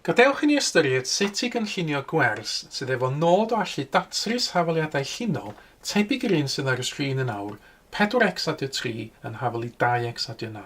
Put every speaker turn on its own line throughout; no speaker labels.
Gadewch i ni ystyried sut i gynllunio gwers sydd efo nod o allu datrys hafaliadau llinol tebyg i'r un sydd ar y sgrin yn awr, 4X adio 3 yn hafal i 2X adio 9.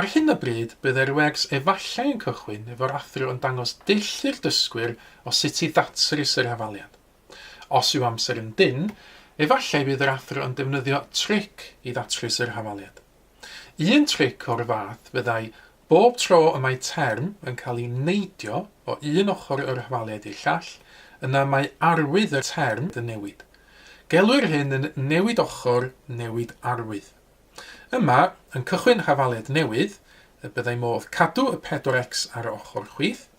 Ar hyn o bryd, bydd yr UX efallai yn cychwyn efo'r athro yn dangos dull i'r dysgwyr o sut i ddatrys yr hafaliad. Os yw amser yn dynn, efallai bydd yr athro yn defnyddio tric i ddatrys yr hafaliad. Un tric o'r fath fyddai Bob tro y mae term yn cael ei neidio o un ochr y rhwaliaid i'r llall, yna mae arwydd y term yn newid. Gelwir hyn yn newid ochr, newid arwydd. Yma, yn cychwyn rhafaliad newydd, y byddai modd cadw y pedwar X ar ochr chwith,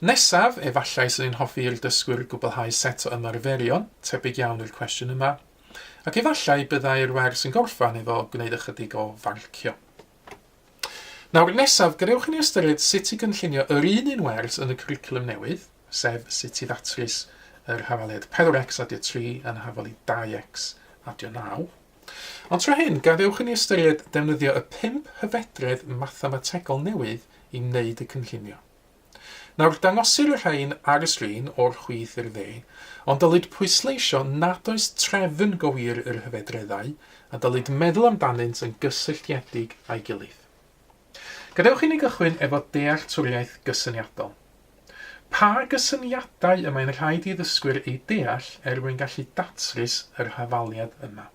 Nesaf, efallai swn i'n hoffi i'r dysgwyr gwblhau set o ymarferion, tebyg iawn i'r cwestiwn yma, ac efallai byddai'r wers yn gorffan efo gwneud ychydig o farcio. Nawr, nesaf, gadewch i ni ystyried sut i gynllunio yr un un wers yn y cwricwlwm newydd, sef sut i ddatrys yr hafaliad 4x adio 3 yn hafali 2x adio 9. Ond tro hyn, gadewch i ni ystyried defnyddio y pump hyfedredd mathemategol newydd i wneud y cynllunio. Nawr, dangosir y rhain ar y sgrin, o'r chwith i'r dde, ond dylid pwysleisio nad oes trefn go wir i'r hyfedreddau, a dylid meddwl amdanynt yn gysylltiedig â'i gilydd. Gadewch i ni gychwyn efo dealltwriaeth gysyniadol. Pa gysyniadau y mae'n rhaid i ddysgwyr eu deall er mwyn gallu datrys yr hafaliad yma?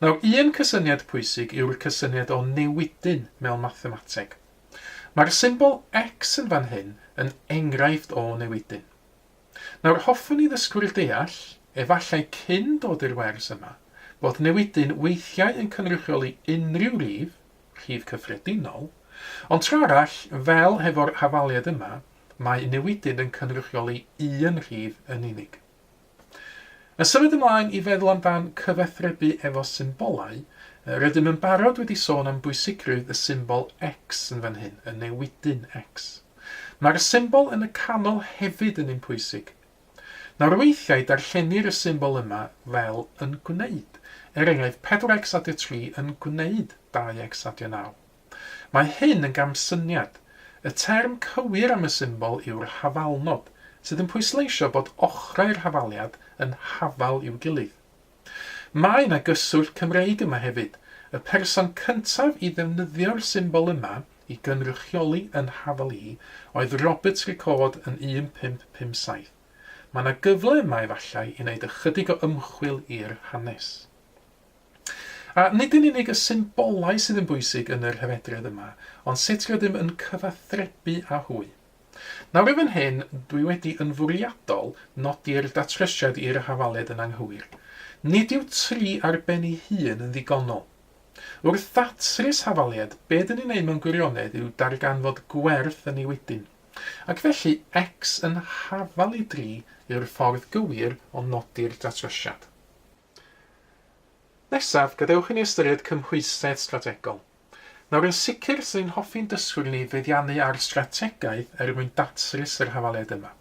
Nawr, un cysyniad pwysig yw'r cysyniad o newidyn mewn mathemateg. Mae'r symbol X yn fan hyn yn enghraifft o newidyn. Nawr hoffwn i ddysgwyr deall, efallai cyn dod i'r wers yma, bod newidyn weithiau yn cynrychioli unrhyw rif, rhif cyffredinol, ond tra arall, fel hefo'r hafaliad yma, mae newidyn yn cynrychioli un rhif yn unig. Yn symud ymlaen i feddwl amdan cyfathrebu efo symbolau, rydym yn barod wedi sôn am bwysigrwydd y symbol X yn fan hyn, y newidyn X. Mae'r symbol yn y canol hefyd yn un pwysig. Nawr weithiau darllenir y symbol yma fel yn gwneud, er enghraifft 4x adio 3 yn gwneud 2x adio 9. Mae hyn yn gamsyniad. Y term cywir am y symbol yw'r hafalnod, sydd yn pwysleisio bod ochrau'r hafaliad yn hafal i'w gilydd. Mae 'na gyswllt Cymreig yma hefyd, y person cyntaf i ddefnyddio'r symbol yma i gynrychioli yn hafal i oedd Robert Ricord yn 1557. Mae 'na gyfle yma efallai i wneud ychydig o ymchwil i'r hanes. A nid yn unig y symbolau sydd yn bwysig yn yr hyrhedredd yma, ond sut rydym yn cyfathrebu â hwy. Nawr i fan hyn, dwi wedi yn fwriadol nodi'r datrysiad i'r hafaled yn anghywir. Nid yw tri ar ben ei hun yn ddigonol. Wrth ddatrys hafaliad, be dyn ni'n ei mewn gwirionedd yw darganfod gwerth yn ei wedyn. Ac felly, X yn hafal i dri yw'r ffordd gywir o nodi'r datrysiad. Nesaf, gadewch i ni ystyried cymhwysedd strategol. Nawr, yn sicr, rydyn ni'n hoffi'n dysgwyr ni feddiannu ar strategaeth er mwyn datrys yr hafaliad yma.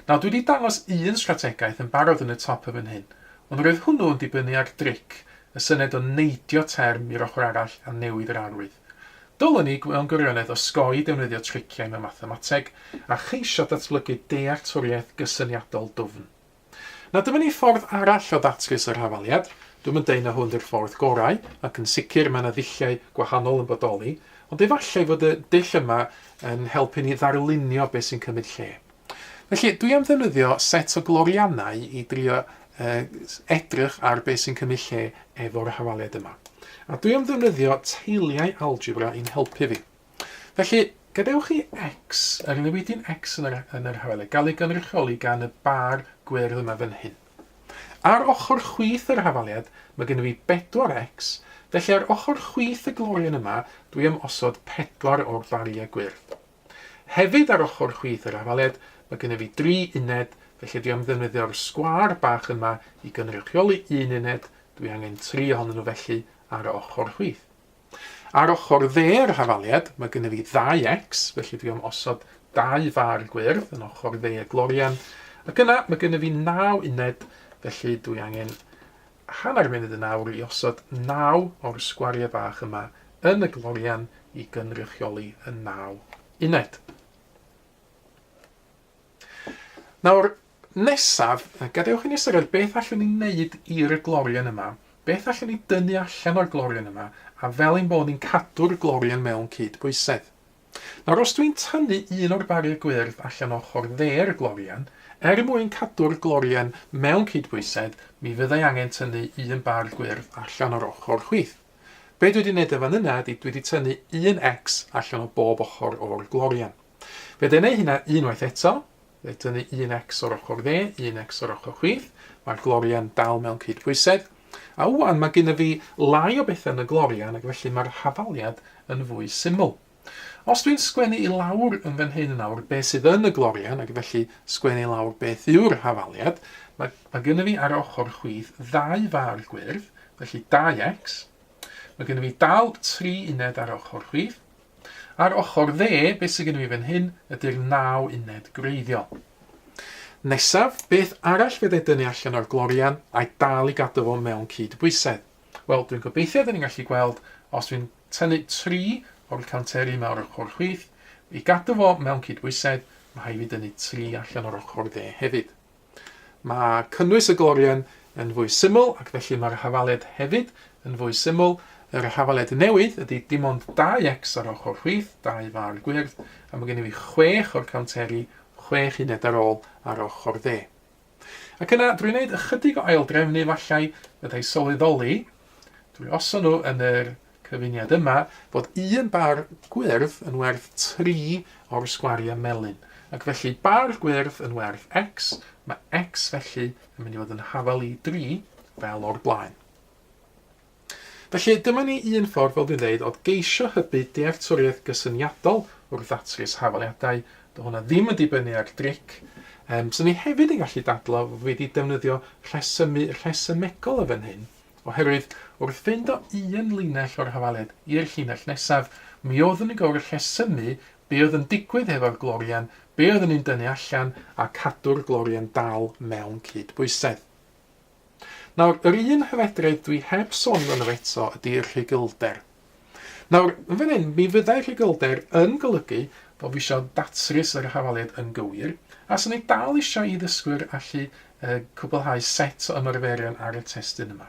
Nawr, dwi wedi dangos un strategaeth yn barod yn y top yn fan hyn, ond roedd hwnnw yn dibynnu ar dric, y syniad o neidio term i'r ochr arall a newid yr arwydd. Dylwn i, mewn gwirionedd, osgoi defnyddio triciau mewn mathemateg a cheisio datblygu dealltwriaeth gysyniadol dwfn. Na, dyma ni ffordd arall o ddatrys yr hafaliad. Dwi'm yn deud na hwn 'di'r ffordd gorau, ac yn sicr mae 'na ddulliau gwahanol yn bodoli, ond efallai fod y dull yma yn helpu ni ddarlunio beth sy'n cymryd lle. Felly, dwi am ddefnyddio set o gloriannau i drio edrych ar beth sy'n cymryd lle efo'r hafaliad yma. A dwi am ddefnyddio teiliau algebra i'n helpu fi. Felly, gadewch chi X, yr newidyn X yn yr, yn yr hafalau, gael ei gynrychioli gan y bar gwyrdd yma fan hyn. Ar ochr chwith yr hafaliad, mae gennym fi bedwar X, felly ar ochr chwith y glorian yma, dwi am osod pedwar o'r bariau gwyrdd. Hefyd ar ochr chwith yr hafaliad, mae gennym fi dri uned, felly dwi am ddefnyddio'r sgwâr bach yma i gynrychioli un uned, dwi angen tri ohonyn nhw felly ar ochr chwith. Ar ochr dde'r hafaliad, mae gennyf fi ddau X, felly dwi am osod dau far gwyrdd yn ochr dde y glorian, ac yna mae gennyf fi naw uned, felly dwi angen hanner munud yn awr i osod naw o'r sgwariau bach yma yn y glorian i gynrychioli y naw uned. Nawr, nesaf, gadewch i ni ystyried beth allwn ni wneud i'r glorian yma, beth allwn ni dynnu allan o'r glorian yma, a fel ein bod ni'n cadw'r glorian mewn cydbwysedd. Nawr, os dwi'n tynnu un o'r bariau gwyrdd allan ochr dde'r glorian, er mwyn cadw'r glorian mewn cydbwysedd, mi fyddai angen tynnu un bar gwyrdd allan o'r ochr chwith. Be dwi wedi wneud yn fan yna ydy dwi wedi tynnu un X allan o bob ochr o'r glorian. Fe dyn ei hynna unwaith eto. Fe dynnu un ex o'r ochr dde, un ex o'r ochr chwith. Mae'r glorian dal mewn cyd-bwysedd. A wwan, mae gyda fi lai o bethau yn y glorian ac felly mae'r hafaliad yn fwy syml. Os dwi'n sgwennu i lawr yn fan hyn yn awr beth sydd yn y glorian ac felly sgwennu i lawr beth yw'r hafaliad, mae, mae gyda fi ar ochr chwith ddau far gwyrdd, felly 2x. Mae gyda fi dal tri uned ar ochr chwith, Ar ochr dde, beth sydd gennym ni fan hyn ydy'r naw uned gwreiddiol. Nesaf, beth arall fyddai dynnu allan o'r glorian a'i dal i gadw fo mewn cyd-bwysedd? Wel, dwi'n gobeithio dyn ni'n gallu gweld os dwi'n tynnu tri o'r canteri yma o'r ochr chwith, i gadw fo mewn cyd-bwysedd, mae rhaid fi dynnu tri allan o'r ochr dde hefyd. Mae cynnwys y glorian yn fwy syml ac felly mae'r hafaled hefyd yn fwy syml. Yr hafaled newydd ydy dim ond 2x ar ochr chwith, dau far gwyrdd, a mae gennym ni chwech o'r cownteri, chwech uned ar ôl, ar ochr dde. Ac yna, drwy wneud ychydig o aildrefnu, efallai, fydda i sylweddoli, drwy osod nhw yn yr Cyfuniad yma fod un bar gwyrdd yn werth tri o'r sgwariau melyn, ac felly bar gwyrdd yn werth X, mae X felly yn mynd i fod yn hafal i dri, fel o'r blaen. Felly, dyma ni un ffordd, fel dwi'n dweud, o geisio hybu dealltwriaeth gysyniadol wrth ddatrys hafaliadau. Do hwnna ddim yn dibynnu ar dric. Um, so ni hefyd yn gallu dadlo fod wedi defnyddio rhesymu rhesymegol y fan hyn, Oherwydd, wrth fynd o un linell o'r hafaled i'r llinell nesaf, mi oeddwn i gywir rhesymu be oedd yn digwydd hefo'r glorian, be oeddwn i'n dynnu allan, a cadw'r glorian dal mewn cyd-bwysedd. Nawr, yr un hyfedredd dwi heb sôn amdano fo eto ydy rhugylder. Nawr, yn fan hyn, mi fyddai rhugylder yn golygu bod fi isio datrys yr hafaliad yn gywir, a 'swn i dal isio i ddysgwyr allu cwblhau set o ymarferion ar y testun yma.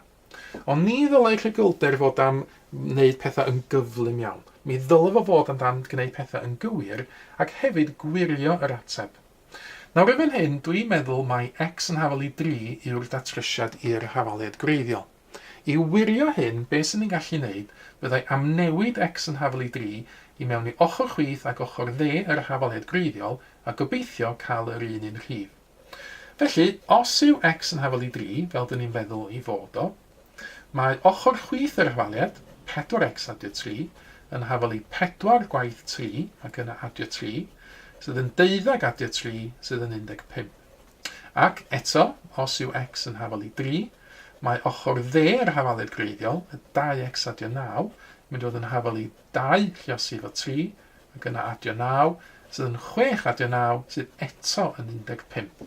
Ond ni ddylai rhugylder fod am wneud pethau yn gyflym iawn. Mi ddylai fo fod am dan gwneud pethau yn gywir ac hefyd gwirio yr ateb. Nawr yn fan hyn, dwi'n meddwl mai X yn hafal i 3 yw'r datrysiad i'r hafaliad gwreiddiol. I wirio hyn, be sy'n ei gallu wneud, byddai amnewid X yn hafal i dri i mewn i ochr chwith ac ochr dde yr hafaliad gwreiddiol a gobeithio cael yr un un rhif. Felly, os yw X yn hafal i dri, fel dŷn ni'n feddwl ei fod o, mae ochr chwith yr hafaliad, 4X adio tri, yn hafal i pedwar gwaith tri ac yna adio tri, sydd yn deuddeg adio tri, sydd yn 15. Ac, eto, os yw X yn hafal i dri, mae ochr dde yr hafaledd greiddiol, y dau X adio naw, yn mynd i fod yn hafal i dau lluosi efo tri, ac yna adio naw, sydd yn chwech adio naw, sydd eto yn un deg pump.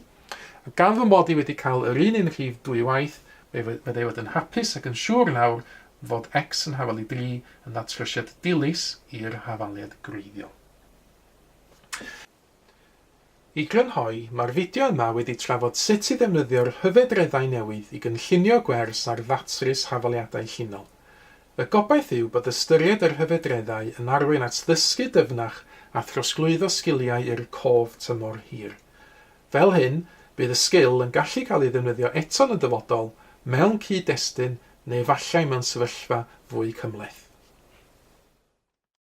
A gan fy mod i wedi cael yr un un rhif dwy waith, fe fydda i fod yn hapus ac yn siŵr nawr fod X yn hafal i dri yn ddatrysiad dilys i'r hafaledd greiddiol. I grynhoi, mae'r fideo yma wedi trafod sut i ddefnyddio'r hyfedreddau newydd i gynllunio gwers ar ddatrys hafaliadau llinol. Y gobaith yw bod ystyried yr hyfedreddau yn arwain at ddysgu dyfnach a throsglwyddo sgiliau i'r cof tymor hir. Fel hyn, bydd y sgil yn gallu cael ei ddefnyddio eto yn y dyfodol, mewn cyd-destun neu efallai mewn sefyllfa fwy cymhleth.